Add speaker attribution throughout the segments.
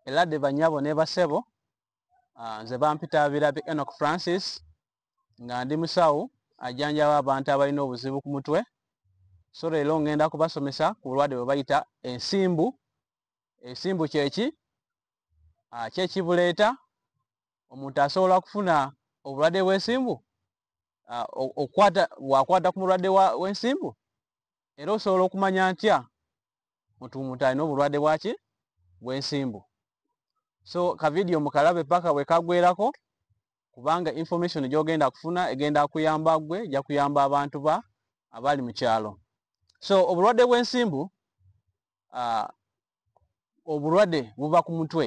Speaker 1: Eladi banyabo ne basebo ah, nze bampita abirabi Enoch Francis nga ndi musawo ajanjaba abantu abalina obuzibu ku mutwe so leero ngenda kubasomesa ku bulwadde bwe bayita ensimbu ensimbu kyeki ah, kyekibuleeta omuntu asobola okufuna obulwadde bw'ensimbu ah, wakwata ku mulwadde w'ensimbu era osobola okumanya ntya mutuumuta alina obulwadde bwaki bwensimbu so kavidiyo mukalabe paka bwekagwerako kubanga information gyogenda kufuna egenda kuyamba gwe ejja kuyamba abantu ba abali mu kyalo so obulwadde bwensimbu uh, obulwadde buva ku mutwe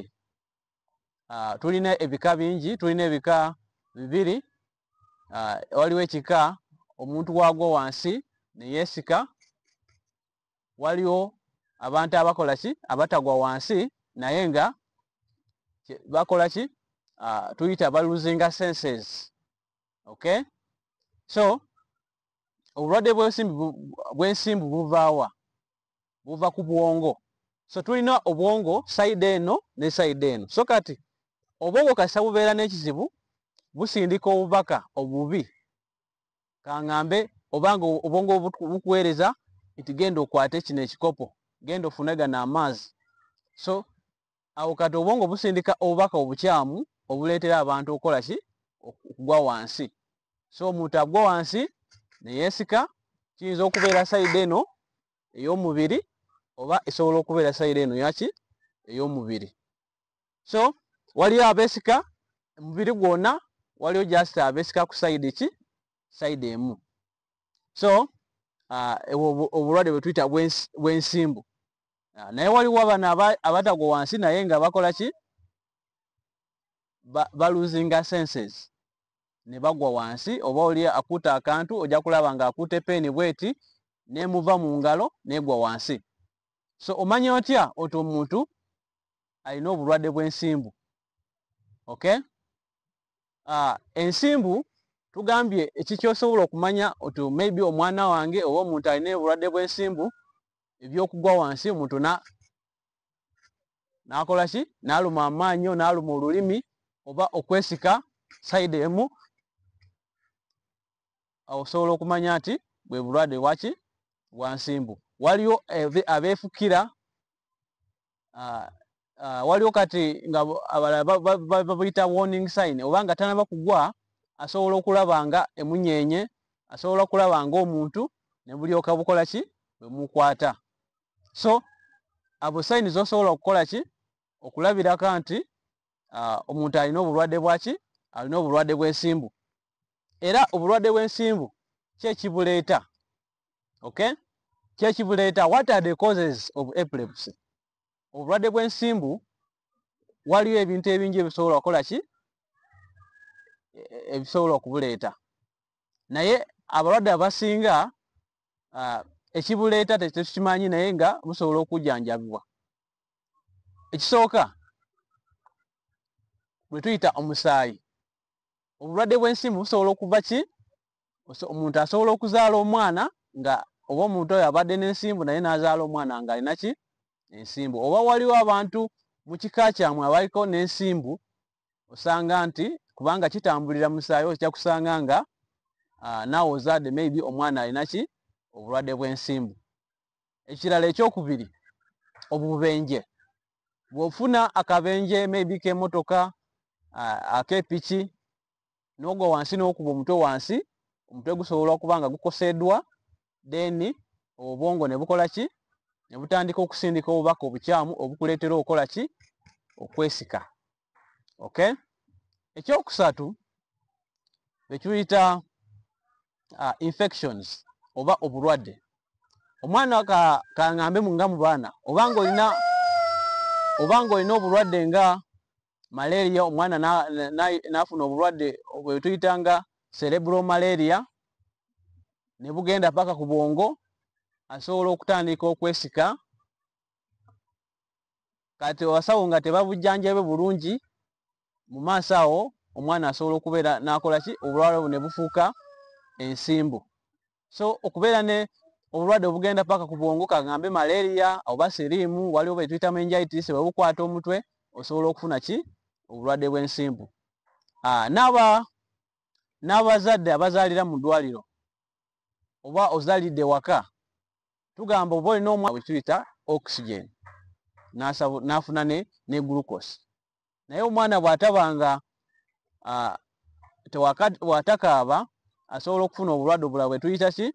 Speaker 1: uh, tulina ebika bingi tulina ebika bibiri uh, waliwo ekika omuntu wagwo wansi neyesika waliwo abantu abakola ki abatagwa wansi naye nga bakola ki uh, tuyita baluzinga senses okay so obulwadde bwensimbu buvaawa buva ku bwongo so tulina obwongo saide eno ne saide eno so kati obwongo kasita bubeera n'ekizibu busindika obubaka obubi kangambe obanga obwongo bukuweereza nti genda okwate kino ekikopo genda ofune gano amaazi so awo kati obwongo busindika obubaka obukyamu obuleetera abantu okukola ki okugwa wansi so omuntu agwa wansi neyeesika kiyinza okubeera sayidi eno ey'omubiri oba esobola okubeera sayidi eno yaki ey'omubiri so waliyo abesika omubiri gwona waliyo just abesika ku side ki side emu so uh, obulwadde bwetuyita bwensimbu uh, naye waliwo abana abatagwa wansi naye nga bakola ki baluzinga senses ne bagwa wansi oba oli akuuta akantu ojja kulaba nga akuuta epeeni bweti nemuva mu ngalo negwa wansi so omanya otya oti omuntu alina obulwadde bw'ensimbu ok ah, ensimbu tugambye ekikyosobola okumanya oti maybe omwana wange oba omuntu alina obulwadde bw'ensimbu ebyokugwa wansi omuntu nakola ki naluma amaanyo naluma olulimi oba okwesika saidi emu awo osobola okumanya nti bwe bulwadde waki bwansimbu waliwo abeefukira ah, ah, waliwo kati nga abalala babuyita warning sign oba nga tanaba kugwa asobola okulaba nga emunyenye asobola okulaba nga omuntu nebulyoka bukola ki bwemukwata so abo sayini zosobola okukola ki okulabirako nti ah, omuntu alina obulwadde bwaki alina obulwadde bwensimbu era obulwadde bwensimbu kyekibuleeta okay kyekibuleeta what are the causes of epilepsy obulwadde bw'ensimbu waliwo ebintu ebingi ebisobola okukola ki e, e, ebisobola okubuleeta naye abalwadde abasinga ekibuleeta tetukimanyi naye nga busobola okujjanjabibwa ekisooka bwe tuyita omusaayi obulwadde bw'ensimbu busobola okuva ki omuntu asobola okuzaala omwana nga oba omuntu oyo abadde n'ensimbu naye n'azaala omwana nga alina ki ensimbu oba waliwo abantu mu kika kyamwe abaliko n'ensimbu osanga nti kubanga kitambulira musaayi okija kusanga nga ah, naawe ozaadde maybe omwana alina ki obulwadde bw'ensimbu ekirala ekyokubiri obubenje bw'ofuna akabenje maybe k'emotoka ah, ak'epiki n'ogwa wansi n'okuba omutwe wansi omutwe gusobola okuba nga gukoseddwa then obwongo ne bukola ki ne butandika okusindika obubaka obukyamu obukuleetera okukola ki okwesika okay ekyokusatu ekiyita uh, infections oba obulwadde omwana ka, kangambe nga mu baana oba ngaolina oba ngaolina obulwadde nga malaria omwana nafuna obulwadde bwetuyitanga cerebro malaria nebugenda paka ku bwongo asobola okutandika okwesika kati abasawo nga tebabujjanjabe bulungi mu maaso awo omwana asobola okubeera nakola ki obulwala bu ne bufuuka ensimbu so okubeera ne obulwadde obugenda paka ku bwongo kagambe malaria oba siriimu waliwo bwetuyita mengitis bwebukwata omutwe osobola okufuna ki obulwadde bw'ensimbu ah, naba n'abazadde abazaalira mu ddwaliro oba ozalidde waka tugamba oba olina omwa bwetuyita oxygen n'afuna ne glucose naye omwana bw'ataba nga watakaaba asobola okufuna obulwadde obulala bwe tuyita ki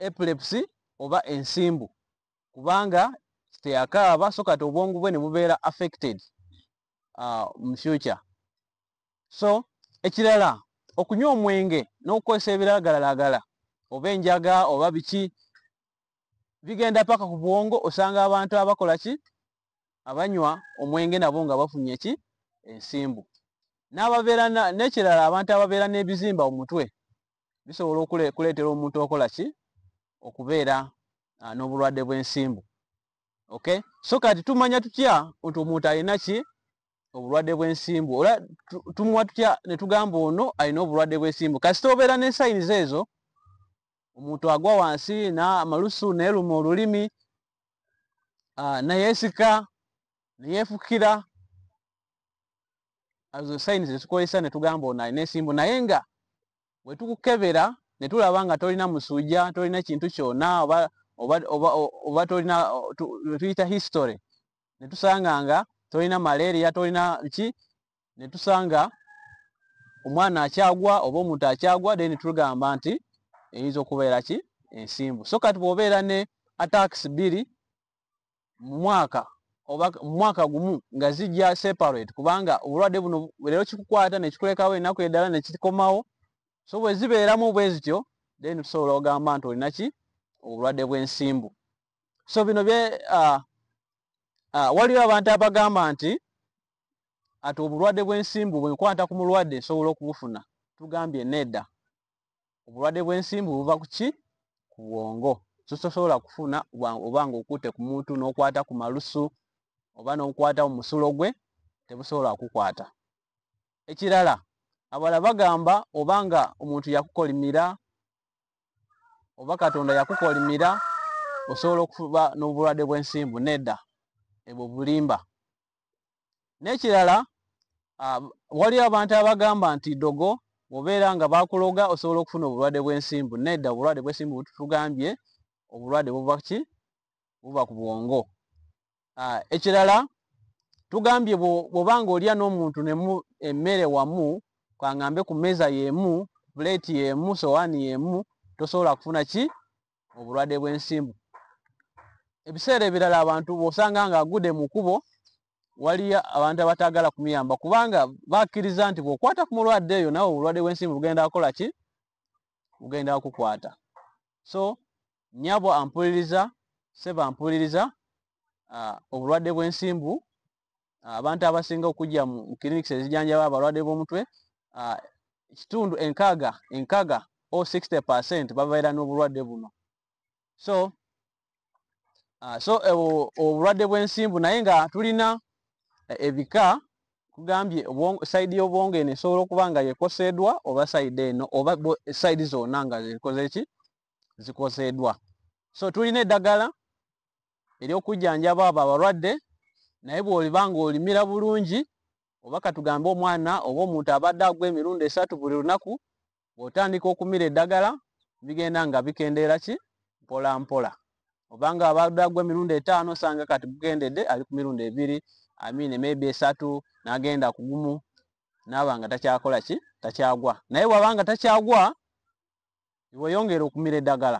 Speaker 1: epilepsy oba ensimbu kubanga teyakaaba so kati obwongu bwe ne bubeera affected mu future so ekirala okunywa omwenge n'okukozesa ebiragalalagala oba enjaga oba biki bigenda paka ku bwongo osanga abantu abakola ki abanywa omwenge nabo nga bafunye ki ensimbu n'ababeera n'ekirala abantu ababeera n'ebizimba omutwe bisobola okuleetera omuntu okola ki okubeera ah, n'obulwadde bw'ensimbu okay so kati tumanya tutya nti omuntu alina ki obulwadde bw'ensimbu ola tumuwa tutya ne tugamba ono alina obulwadde bw'ensimbu kasita obeera n'ensayiniza ezo omuntu agwa wansi n'amalusu neeruma olulimi ah, neyeesika neyeefukira azo sayini zetukozesa netugamba ono alina ensimbu naye nga wetukukebera netulaba nga tolina musuuja tolina kintu kyona oba oba oba oba tolina tuyita history netusanga nga tolina malaria tolina ki ne tusanga omwana akyagwa oba omuntu akyagwa then tugamba nti eyinza okubeera ki ensimbu so kati bwobeera ne atakisi bbiri mu mwaka oba mu mwaka gumu nga zijja separate kubanga obulwadde buno leero kikukwata nekikulekawo enaku eddala nekikomawo so bwe zibeeramu bwe zityo then tusobola ogamba nti olina ki obulwadde bw'ensimbu so bino bye uh, uh, waliwo abantu abagamba nti ati obulwadde bw'ensimbu bwenkwata ku mulwadde nsobola okubufuna tugambye nedda obulwadde bw'ensimbu buva ku ki ku bwongo sososobola kufuna oba nga okutte ku muntu n'okwata ku malusu oba n'okwata mu musulo gwe tebusobola kukwata ekirala abala bagamba oba nga omuntu yakukolimira oba katonda yakukolimira osobola okuba n'obulwadde bw'ensimbu nedda ebwo bulimba nekirala ah, waliyo abantu abagamba nti dogo obeera nga bakuloga osobola okufuna obulwadde bwensimbu nedda obulwadde bwesimbu bututugambye obulwadde buva ki buva ku bwongo ah, ekirala tugambye bwoba nga olya n'omuntu nemu emmere wamu kangambe ku meeza yemu puleeti yemu sowaani yemu tosobola kufuna ki obulwadde bw'ensimbu ebiseera ebirala abantu bw'osanga ng'agude mu kubo waliyo abantu abataagala kumuyamba kubanga bakkiriza nti bw'okwata ku mulwadde eyo nawe obulwadde bw'ensimbu bugenda kukola ki bugenda kukwata so nyabo ampuliriza seba ampuliriza uh, obulwadde bw'ensimbu abantu abasinga okujja mu clinics ezijanjaba abalwadde b'omutwe ekitundu enkaaga enkaga o 60 percent babeera n'obulwadde buno so uh, so eh, obulwadde bw'ensimbu naye nga tulina eh, ebika kugambye saidi y'obwongo eno esobola okuba nga yekoseedwa oba saidi eno oba saidi zonna nga zikoze ki zikoseedwa so tulina eddagala ery'okujjanjaba abo abalwadde naye bw'oliba ng'olimira bulungi oba katugambe omwana oba omuntu abadde agwa emirundi esatu buli lunaku bw'otandika okumira eddagala bigenda nga bikendeera ki mpola mpola obanga abadde agwa emirundi etaano osanga kati gukendedde ali ku mirundi ebiri amiine maybe esatu n'agenda kugumu naaba nga takyakola ki takyagwa naye bw'aba nga takyagwa weyongera okumira eddagala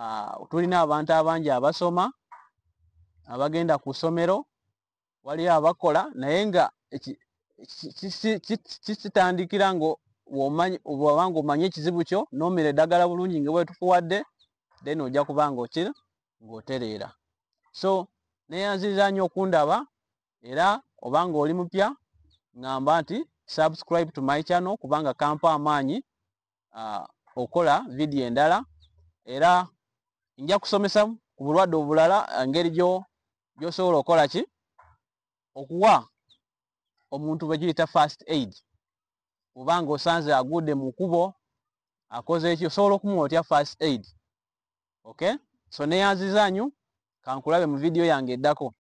Speaker 1: ah, tulina abantu abangi abasoma abagenda ku ssomero waliyo abakola naye nga kitandikira nga bwaba nga omanye ekizibu kyo nomira eddagala bulungi nga bwetukuwadde then ojja kuba nga okira ng'otereera so neyanziriza nnyo okundaba era oba nga oli mupya ngamba nti subscribe to my channel kubanga kampa amaanyi uh, okola vidiyo endala era nja kusomesa ku bulwadde obulala ngeri gyosobola okola ki okuwa omuntu bwegiyita fast aid oba nga osanze aguudde mu kubo akoze eki osobola okumuwa otya fast aid okay so neyanzizanyu kankulabe mu vidiyo yange eddako